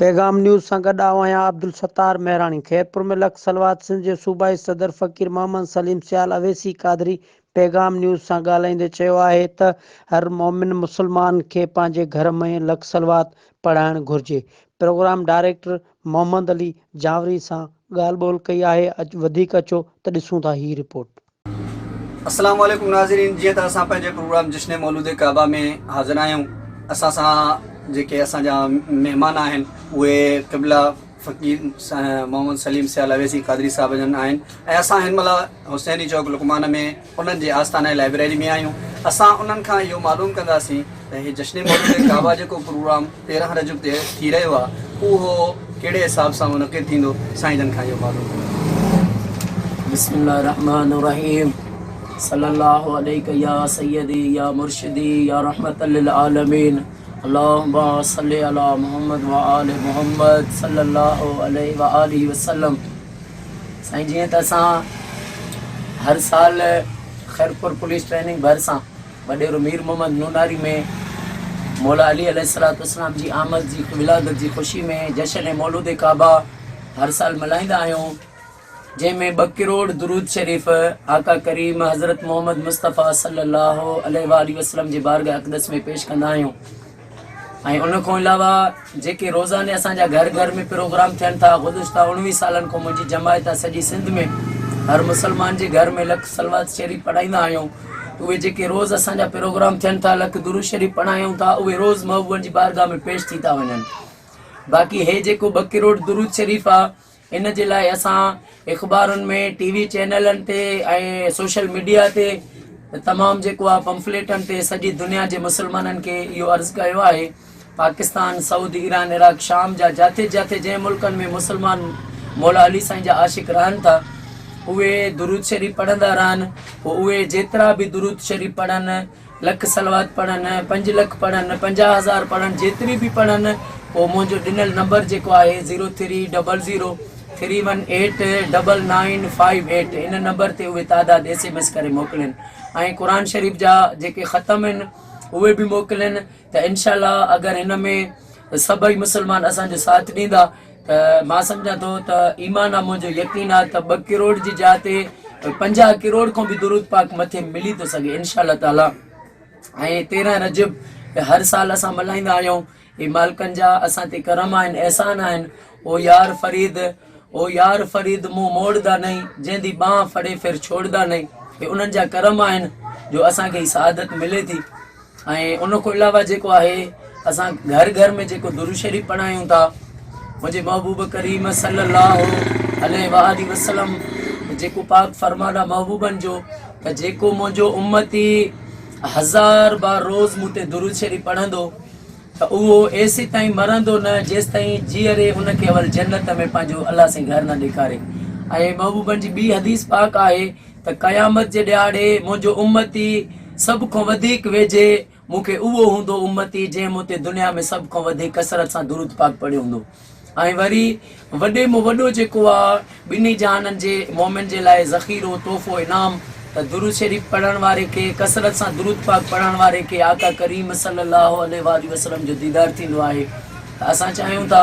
پيغام نيوز سان گڏ آئون آهيان عبدالستار مهراڻي. خيرپور ۾ لک صلوات سنڌ جي صوبائي صدر فقير محمد سليم سيال اويسي قادري پيغام نيوز سان ڳالهائيندي چيو آهي ته هر مؤمن مسلمان کي پنهنجي گهر ۾ لک صلوات پڙهائڻ گهرجي. پروگرام ڊائريڪٽر محمد علي جانوري سان ڳالهه ٻولهه ڪئي آهي وڌيڪ اچو ته ڏسون ٿا هي رپورٽ. السلام عليڪم ناظرين جيئن ته اسان پنهنجي پروگرام جشن مولود ڪعبه ۾ حاضر آهيون اسان سان جيڪي اسان جا مهمان آهن اهي قبلا فقير محمد سليم سيال اويسي قادري صاحب جن آهن ۽ اسان هن مهل حسيني چوڪ لقمان ۾ انهن جي آستانه لائبريري ۾ آهيون اسان انهن کان اهو معلوم ڪنداسين ۽ هي جشن مولد ڪعبه جيڪو پروگرام تيرهن رجب تي ٿي رهيو آهي اهو ڪهڙي حساب سان منعقد ٿيندو سائين جن کان اهو معلوم ڪريو. بسم الله الرحمٰن الرحيم صلي الله عليڪ يا سيدي يا مرشدي يا رحمة للعالمين اللهم صل علي محمد وآل محمد صلي الله عليه وآله وسلم سائين جيئن ته اسان هر سال خيرپور پوليس ٽريننگ ڀرسان وڏيرو مير محمد نوناري ۾ مولا علي عليه الصلوة والسلام جي آمد جي ولادت جي خوشي ۾ جشن مولود ڪعبه هر سال ملهائيندا آهيون جنهن ۾ ٻه ڪروڙ درود شريف آقا ڪريم حضرت محمد مصطفيٰ صلي الله عليه وآله وسلم جي بارگاهه اقدس ۾ پيش ڪندا آهيون ۽ ان کان علاوه جيڪي روزاني اسان جا گهر گهر ۾ پروگرام ٿين ٿا گذشته اڻويهه سالن کان منهنجي جماعت ۽ سڄي سنڌ ۾ هر مسلمان جي گهر ۾ لک صلوات شريف پڙهائيندا آهيون ته اهي جيڪي روز اسان جا پروگرام ٿين ٿا لک درود شريف پڙهايون ٿا اهي روز محبوبن جي بارگاهه ۾ پيش ٿي ٿا وڃن باقي هي جيڪو ٻه ڪروڙ درود شريف آهي ان جي لاء اسان اخبارن ۾ ٽي وي چينلن تي ۽ سوشل ميڊيا تي تمام جيڪو آهي پمفليٽن تي سڄي دنيا جي مسلمانن کي اهو عرض ڪيو آهي پاڪستان سعودي ايران عراق شام جا جاٿي جاٿي جنهن ملڪن ۾ مسلمان مولا علي سائين جا عاشق رهن ٿا اهي درود شريف پڙهندا رهن پوء اهي جيترا به درود شريف پڙهن لک صلوات پڙهن، پنج لک پڙهن، پنجاهه هزار پڙهن، جيتري به پڙهن پوء منهنجو ڏنل نمبر جيڪو آهي zero three double zero three one eight double nine five eight ان نمبر تي اهي تعداد ايس ايم ايس ڪري موڪلين ۽ قرآن شريف جا جيڪي ختم آهن اهي به موڪلين ته انشاء الله اگر هن ۾ سڀئي مسلمان اسانجو ساٿ ڏيندا ته مان سمجهان ٿو ته ايمان آ منهنجو يقين آ ته ٻه ڪروڙ جي جاء تي پنجاهه ڪروڙ کان به درود پاڪ مٿي ملي ٿو سگهي انشاء الله تعالي ۽ تيرهن رجب هر سال اسان ملهائيندا آهيون هي مالڪن جا اسان تي کرم آهن احسان آهن او يار فريد او يار فريد منهن موڙدا نئي جنهن جي ٻانهن ڦڙي ڦر ڇوڙدا نئي هي انهن جا کرم آهن جو اسان کي هي سعادت ملي ٿي ۽ ان کان علاوه جيڪو آهي اسان گهر گهر ۾ جيڪو درود شريف پڙهايون ٿا منهنجي محبوب ڪريم صلي الله عليه وآله وسلم جيڪو پاڪ فرمان آ محبوبن جو ته جيڪو منهنجو امتي هزار بار روز مون تي درود شريف پڙهندو ته اهو ايسي تائين مرندو نه جيس تائين جيئري ان کي اول جنت ۾ پنهنجو الله سائين گهر نه ڏيکاري ۽ محبوبن جي ٻي حديث پاڪ آهي ته قيامت جي ڏهاڙي منهنجو امتي سڀ کان وڌيڪ ويجهي مون کي اهو هوندو امتي جنهن مون تي دنيا ۾ سڀ کان وڌيڪ ڪثرت سان درود پاڪ پڙهيو هوندو ۽ وري وڏي مان وڏو جيڪو آ ٻنهي جهانن جي مؤمن جي لاء ذخيرو تحفو انعام ته درود شريف پڙهڻ واري کي ڪثرت سان درود پاڪ پڙهڻ واري کي آقا ڪريم صلي الله عليه واٰله وسلم جو ديدار ٿيندو آهي ته اسان چاهيون ٿا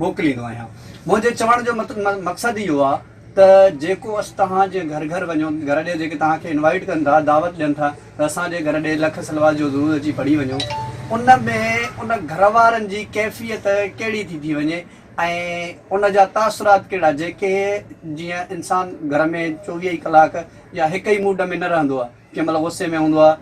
موڪليندو آهيان. منهنجي چوڻ جو مقصد اهو آهي ته جيڪو اسٽ توهان جي گهر گهر وڃو، گهر ڏي جيڪي توهان کي انوائيٽ ڪن ٿا، دعوت ڏين ٿا ته اسان جي گهر ڏي لک صلوات جو درود اچي پڙهي وڃو، ان ۾ ان گهر وارن جي ڪيفيت ڪهڙي ٿي ٿي وڃي ۽ ان جا تاثرات ڪهڙا جيڪي جيئن انسان گهر ۾ چوويهه ئي ڪلاڪ يا هڪ ئي موڊ ۾ نه رهندو آهي. ڪنهن مهل غصي ۾ هوندو آهي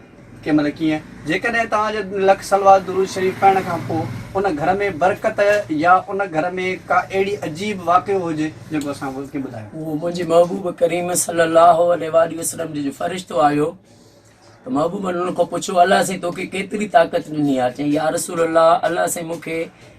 ڪنهن مهل ڪيئن جيڪڏهن توهان جي لک صلوات درود شريف پڙهڻ کان پوء ان گهر ۾ برڪت يا ان گهر ۾ ڪا اهڙي عجيب واقعو هجي جيڪو اسان کي ٻڌايو. هو منهنجي محبوب ڪريم صلي الله عليه واٰله وسلم جي جو فرشتو آيو ته محبوبن ان کان پڇيو الله سائين توکي ڪيتري طاقت ڏني آهي چيائين يا رسول الله الله سائين مونکي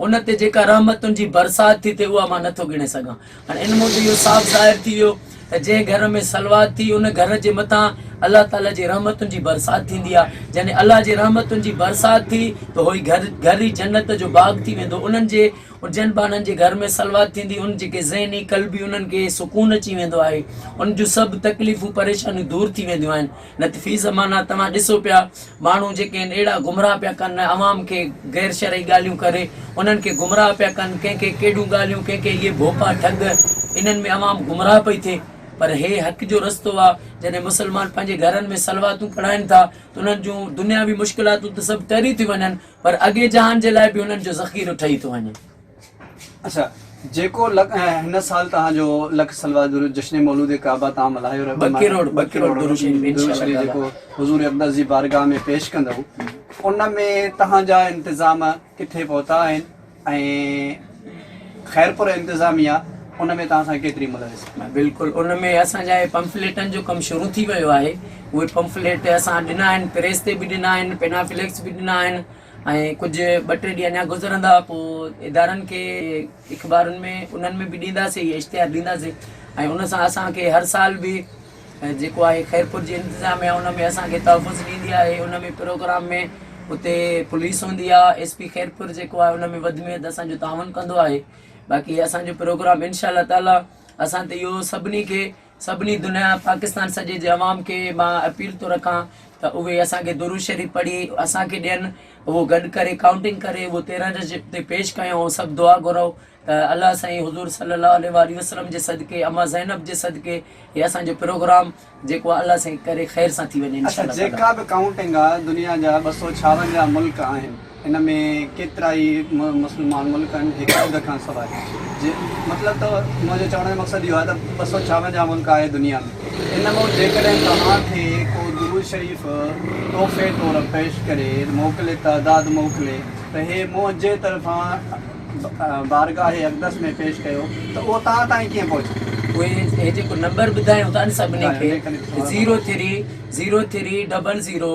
ان تي جيڪا رحمتن جي برسات ٿي ٿئي اها مان نٿو ڳڻي سگهان هاڻي ان موجب اهو صاف ظاهر ٿي ويو ته جنهن گهر ۾ صلوات ٿي ان گهر جي مٿان الله تعاليٰ جي رحمتن جي برسات ٿيندي آ جڏهن الله جي رحمتن جي برسات ٿي ته هو گهر گهر ئي جنت جو باغ ٿي ويندو انهن جي جن بانن جي گهر ۾ صلوات ٿيندي ان جيڪي ذهني قلبي انهن کي سڪون اچي ويندو آهي ان جون سڀ تڪليفون پريشانيون دور ٿي وينديون آهن نه ته في زمانه توهان ڏسو پيا ماڻهو جيڪي آهن اهڙا گمراهه پيا ڪن عوام کي غير شرعي ڳالهيون ڪري انهن کي گمراهه پيا ڪن ڪنهن کي ڪهڙيون ڳالهيون ڪنهن کي اهي ڀوپا ٺڳ انهن ۾ عوام گمراهه پئي ٿئي پر هي حق جو رستو آ جڏهن مسلمان پنهنجي گهرن ۾ صلواتون پڙهائن ٿا ته انهن جون دنياوي مشڪلاتون ته سڀ ٽري ٿيون وڃن پر اڳي جهان جي لاء به انهن جو ذخيرو ٺهي ٿو وڃي. اچھا جيڪو لک هن سال تهان جو لک صلوات درود جشن مولود ڪعبه تهان ملهايو رهبو ٻه ڪروڙ ٻه ڪروڙ درود شريف ان شاء الله جيڪو حضور اقدس جي بارگاھ ۾ پيش ڪندؤ ان ۾ تهان جا انتظام ڪٿي پهتا آهن ۽ خيرپور انتظاميه ان ۾ تهان سان ڪيتري ملوث آهي بلڪل ان ۾ اسان جا هي پمفليٽن جو ڪم شروع ٿي ويو آهي اهي پمفليٽ اسان ڏنا آهن پريس تي به ڏنا آهن پينافليڪس به ڏنا آهن ۽ ڪجهه ٻه ٽي ڏينهن اڃا گذرندا پوء ادارن کي اخبارن ۾ انهن ۾ به ڏينداسين اهي اشتهار ڏينداسين ۽ ان سان اسانکي هر سال به جيڪو آهي خيرپور جي انتظاميا ان ۾ اسانکي تحفظ ڏيندي آهي ان ۾ پروگرام ۾ اتي پوليس هوندي آهي ايس پي خيرپور جيڪو آهي ان ۾ وڌ ۾ وڌ اسانجو تعاون ڪندو آهي باقي اسانجو پروگرام انشاء الله تعالي اسان ته اهو سڀني کي سڀني دنيا پاڪستان سڄي جي عوام کي مان اپيل ٿو رکان ته اهي اسان کي درود شريف پڙهي اسان کي ڏين اهو گڏ ڪري ڪائونٽنگ ڪري اهو تيرهن جج تي پيش ڪيون ۽ سڀ دعا گهرئون ته الله سائين حضور صلي الله عليه واٰله وسلم جي صدقي اما زينب جي صدقي هي اسان جو پروگرام جيڪو آهي الله سائين ڪري خير سان ٿي وڃي انشاء الله تعالٰي. اچا جيڪا به ڪائونٽنگ آهي دنيا جا ٻه سؤ ڇاونجاهه ملڪ آهن. ان ۾ ڪيترائي مسلمان ملڪ آهن هڪ اڌ کان سواء جي مطلب ته منهنجو چوڻ جو مقصد اهو آهي ته ٻه سؤ ڇاونجاهه ملڪ آهي دنيا ۾ ان مون جيڪڏهن توهان کي ڪو درود شريف تحفي طور پيش ڪري موڪلي تعداد موڪلي ته هي منهنجي طرفان بارگاهه اقدس ۾ پيش ڪيو ته اهو توهان تائين ڪيئن پهچندو. پوء هي جيڪو نمبر ٻڌايو ٿا نه سڀني کي zero three zero three double zero.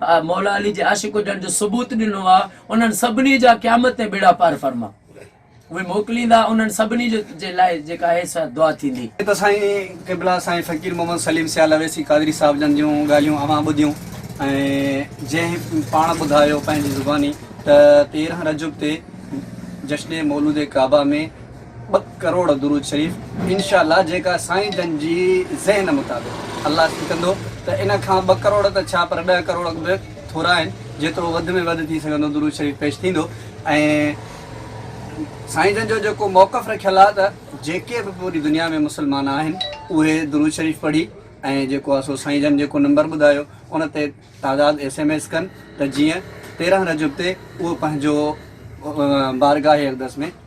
Maula Ali جي عاشق هجڻ جو ثبوت ڏنو آ انهن سڀني جا قيامت تائين ٻيڙا پار فرما اهي موڪليندا انهن سڀني جو جي لاء جيڪا هي سا دعا ٿيندي. جي ته سائين قبلا سائين فقير محمد سليم سيال اويسي قادري صاحب جن جون ڳالهيون اوهان ٻڌيون ۽ جنهن پاڻ ٻڌايو پنهنجي زباني ته تيرهن رجب تي جشن مولود ڪعبه ۾ ٻه ڪروڙ درود شريف انشاء الله جيڪا سائين جن جي ذهن مطابق الله ٿي ڪندو ته ان کان ٻه ڪروڙ ته ڇا پر ڏهه ڪروڙ به ٿورا آهن جيترو وڌ ۾ وڌ ٿي سگهندو درود شريف پيش ٿيندو ۽ سائين جن جو جيڪو موقف رکيل آهي ته جيڪي به پوري دنيا ۾ مسلمان آهن اهي درود شريف پڙهي ۽ جيڪو آهي سو سائين جن جيڪو نمبر ٻڌايو ان تي تعداد ايس ايم ايس ڪن ته جيئن تيرهن رجب تي اهو پنهنجو بارگاهه اقدس ۾